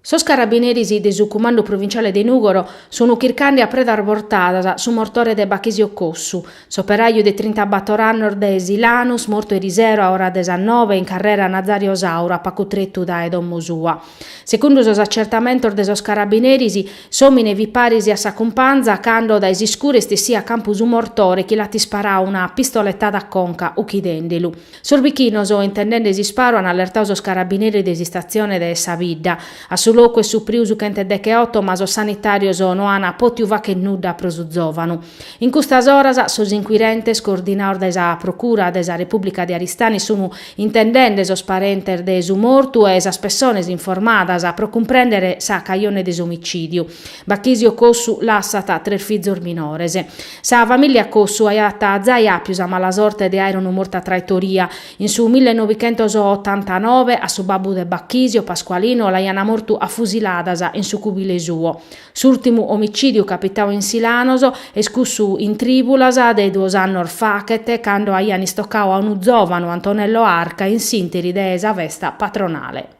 Sos carabineris de su Cumandu Provinciale de Nùgoro sun chircande a predas bortadas su mortore de Bachisio Cossu, s'operàiu de trintabator annos de Silanus mortu erisero a ora de sas noe in carrera Nazario Sauro a pagu tretu dae domo sua. Segundu sos acertamentos de sos carabineris, s'òmine fit paris a sa cumpanza cando dae s'iscuru est essidu a campu su mortore chi l'at isparadu una pistoletada a conca, uchidende lu. Sos bichinos, intendende s'isparu, an allertadu sos carabineris de s'istatzione de sa bidda. A su locu est supriu su chent'e deche oto ma sos sanitàrios no an pòtiu fàghere nudda pro su zòvanu. In custas oras sos inquirentes, coordinados dae sa Procura de sa Repùblica de Aristanis, sun intendende sos parentes de su mortu e sas pessones informadas pro cumprèndere sa cajone de s'omicìdiu. Bachisio Cossu lassat tres fizos minores. Sa famìllia Cossu aiat zai àpiu sa mala sorte de àere unu mortu a traitoria. In su mille novichentos otantanove, a su babbu de Bachisio, Pasqualino, l'aiant mortu a fusiladas in su cubile suo. S'ùrtimu omicìdiu capitau in Silanos est cussu in trìbulas de duos annos faghet, cando aiant istocau a unu zòvanu, Antonello Arca, in s'ìnteri de sa festa patronale.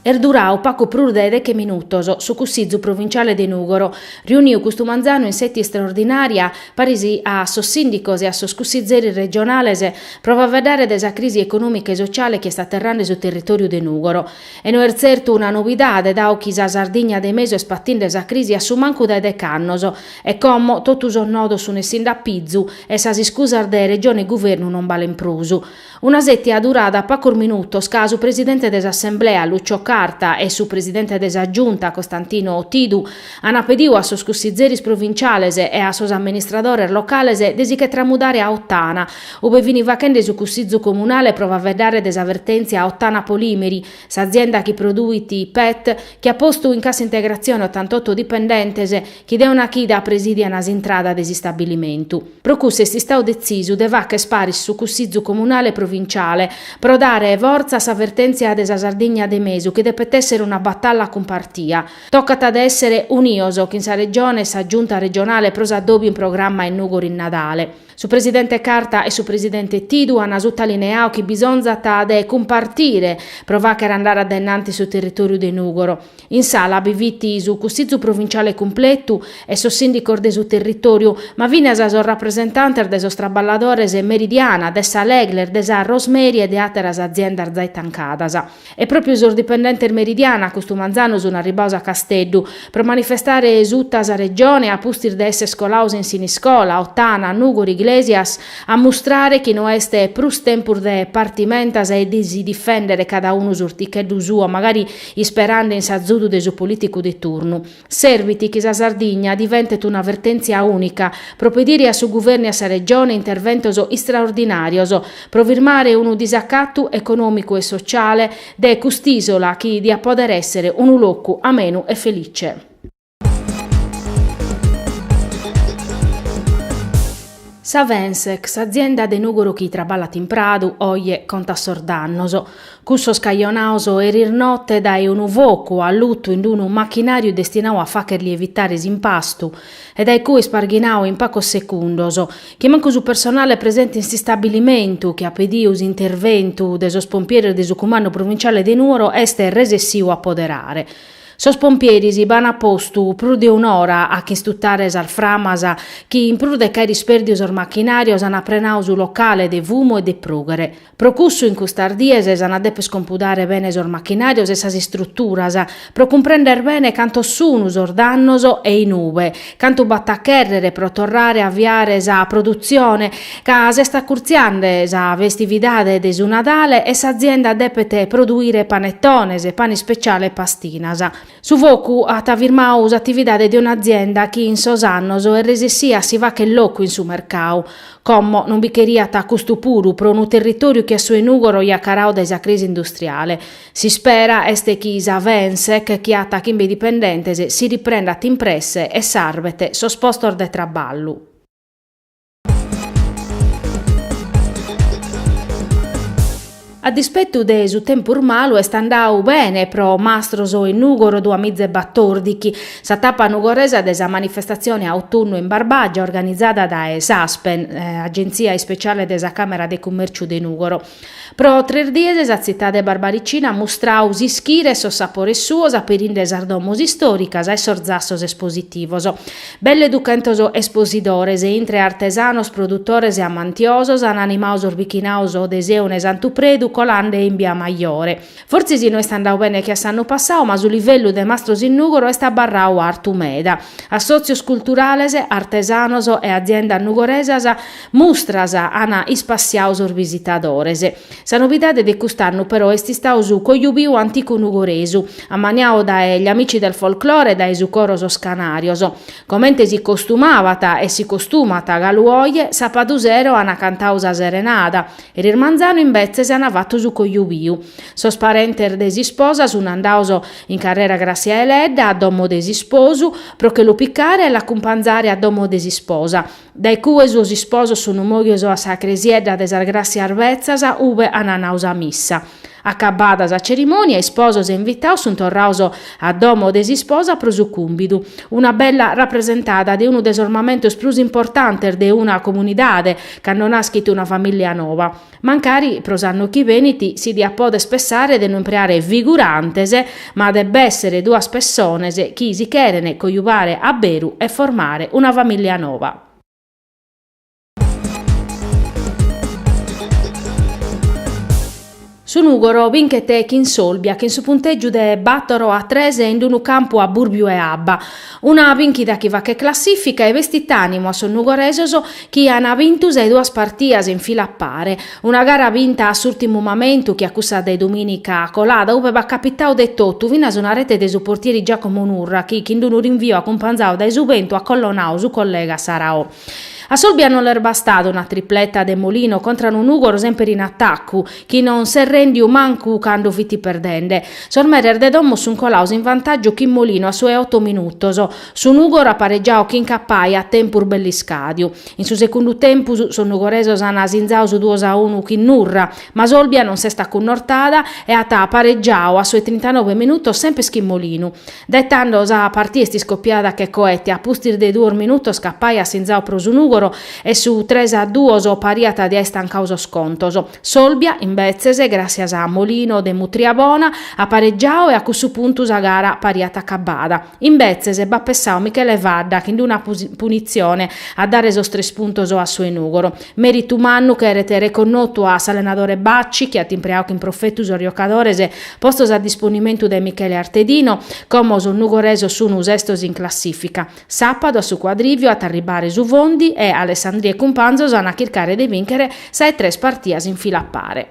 Est durau pagu prus de deche minutos su Cussizu provinciale de Nùgoro, riuniu custu manzanu in sètia istraordinària, paris a sos sìndicos e a sos cussizeris regionales, pro faeddare de sa crisi econòmica e sociale chi est aterrande su territòriu de Nùgoro. E no est tzertu una novidade, dadu chi sa Sardigna de mesu est patinde sa crisi a su mancu dae deche annos, E como totu sos nodos sun essinde a pizu e sas iscusas de Regione e Guvernu non balen prus. Una sètia durada pagos minutos ca su presidente de s'Assemblea, Lucio Carta, e su presidente de sa Giunta, Costantino Tidu, ant pediu a sos cussizeris provinciales e a sos amministradores locales de si che tramudare a Ottana, ube fini faghende su cussizu comunale pro faveddare de sa vertèntzia a Ottana Polimeri, s'azienda chi produit PET, chi at postu in cassa integrazione ottantotto dipendentes, Chi de una chida presidian s'intrada de s'istabilimentu. Pro cussu est istadu detzisu de facher paris su Cussizu Comunale e Provinciale, pro dare fortza a sa vertèntzia de sa Sardigna de mesu chi depet èssere una batalla cumpartia. Tocat de èssere unios chin sa Regione e sa Giunta Regionale pro s'adòbiu in programma in Nùgoro in Nadale. Su presidente Carta e su presidente Tidu an sutalineadu chi bisonzat de cumpartire pro facher andare a dae in antis su territòriu de Nùgoro. In sala bi fit su Cussizu Provinciale cumpletu e sos sìndicos de su territòriu, ma finas sos rapresentantes de sos traballadores de Meridiana, de sa Legler, de sa Rosemary e de àteras aziendas zai tancadas. E pròpiu sos dipendentes Meridiana custu manzanu sunt arribbados a Casteddu pro manifestare suta sa Regione a pustis de esser colados in Siniscola, Ottana, Nùgoro, Iglesias, a mustrare chi no est prus tempus de partimentas e de si difèndere cada unu s'urticheddu suo, magari isperande in s'azudu de su polìticu de turnu. Servit chi sa Sardigna diventet una vertèntzia ùnica, pro pedire a su guvernu e a sa Regione interventos istraordinàrios, pro firmare unu disacatu econòmicu e sotziale de cust'ìsola chi diat pòdere èssere unu locu amenu e felice. Sa Vensec, s'azienda de Nùgoro chi traballat in Pradu, oje contat sos dannos, cussos cajonados eris note dae unu focu allutu in unu machinàriu destinadu a fàgher lievitare s'impastu e dae cue isparghinadu in pagos segundos, chi mancu su personale presente in s'istabilimentu, chi at pedidu s'interventu de sos pompieres de su Cumandu Provinciale de Nùgoro, est resessiu a apoderare. Sos pompieres b'an postu prus de un'ora a ch'istutare sas framas chi, in prus de ch'aer ispèrdiu sos machinàrios, an aprenadu su locale de fumu e de prùghere. Pro cussu, in custas dies s'an a dèpere iscompudare bene sos machinàrios e sas istruturas, pro cumprender bene cantos sun sos dannos e in ube cantu b'at a chèrrere pro torrare a aviare sa produtzione, ca s'est acurtziande sa festividade de su Nadale e s'azienda depet produire panetones, pane speciale e pastinas. Su focu at firmadu s'atividade de un'azienda chi in sos annos est resessida a si fagher locu in su mercadu. Como non bi cheriat custu puru pro unu territòriu che a su 'e Nùgoro jacaradu dae sa crisi industriale. S'ispera est chi sa Vensec chi at chimbe dipendentes si riprendat in presse e sarvet sos postos de traballu. A dispetu de su tempus malu est andadu bene pro Mastros in Nùgoro duamiza e batòrdighi sa tapa nugoresa de sa manifestatzione Autunnu in Barbàgia organizada dae s'Aspen, Agentzia Ispetziale de sa Càmera de Cummèrciu de Nùgoro. Pro tres dies sa tzitade barbaricina at mustradu s'ischire e sos sapores suos aperinde sas domos istòricas e sos zassos espositivos. Belle duchentos esposidores, intre artesanos, produtores e amantiosos, an animadu sos bichinados de Sèuna e Santu Predu colande in Bia Majore. Fortzis no est andadu bene che a s'annu passadu, ma su livellu de Mastros in Nùgoro est abarradu artu meda. Assòtzios culturales, artesanos e aziendas nugoresas mustras ant ispassiadu sos visitadores. Sa novidade de cust'annu però est istadu su Cojubiu Anticu Nugoresu, ammaniadu dae Gli Amici del Folklore e dae su coro Sos Canarios. Comente si costumabat e si costumat galu oje, sàpadu sero ant cantadu sa serenada, Eris manzanu imbetzes ana fatu su cojobiu. Sos parentes de s'isposa suna andaos in carrera Grassia Deledda a domo de s'isposu, pro che lu picare e l'accumpanzare a domo de s'isposa. Dae cue sos isposos sunu moghios a sa cresiedda de sas Grassias Betzas, ube ana nau sa missa. Acabada sa cerimònia, isposos e invitados sunt torrados a domo de s'isposa pro su cùmbidu. Una bella rapresentada de unu de sos mamentos prus importantes de una comunidade, cando naschit una famìllia nova. Mancari pro s'annu chi benit si diat poder pensare de no impreare figurantes, ma de b'èssere duas pessonas chi si cheren coiubare a beru e formare una famìllia nova. Su Nùgoro binchet chin s'Olbia chin su puntègiu de bàtoro a tres in unu campu a bùrbiu 'e abba. Una binchida chi faghet classìfica e bestit ànimu a sos nugoresos chi an bintu sas duas partias in fila a pare. Una gara binta a s'ùrtimu mamentu che a cussa de dumìnica colada ube b'at capitadu de totu, finas una rete de su portieri Giacomo Nurra chi, chin unu rinvio acumpanzadu dae su bentu, at collonadu su collega Saraò. A s'Olbia non l'est bastada una tripleta de Molino contra unu Nùgoro semper in atacu, chi non s'est rèndiu mancu cando fit perdende. Sos meres de domo sunt colados in vantàgiu chin Molino a su 'e oto minutos. Su Nùgoro at paregiadu chin Capai a tempus bell'iscàdiu. In su segundu tempus sos nugoresos ant asinzadu su duos a unu chin Nurra, ma s'Olbia non s'est acunnortada e at paregiadu a su 'e trintanobe minutos semper chin Molinu. Dae tando sa partida est iscopiada che coete, a pustis de duos minutos Capai at sinzau pro su Nùgoro e su tres a duos pariat de aer tancadu sos contos. S'Olbia, imbetzes, gràssias a Molino de mùtria bona, at paregiadu e a cussu puntu sa gara pariat acabada. Imbetzes b'at pessadu Michele Fadda chin d'una punitzione a dare sos tres puntos a su 'e Nùgoro. Meritu mannu cheret reconnotu a s'allenadore Bacci chi at impreau chin profetu sos giocadores postos a disponimentu de Michele Artedino. Como sos nugoresos sunu sestos in classifica, sapadu a su cuadriviu at a arribbare su Fondi e Alessandria e cumpanzos an a chircare de bìnchere sa 'e tres partias in fila a pare.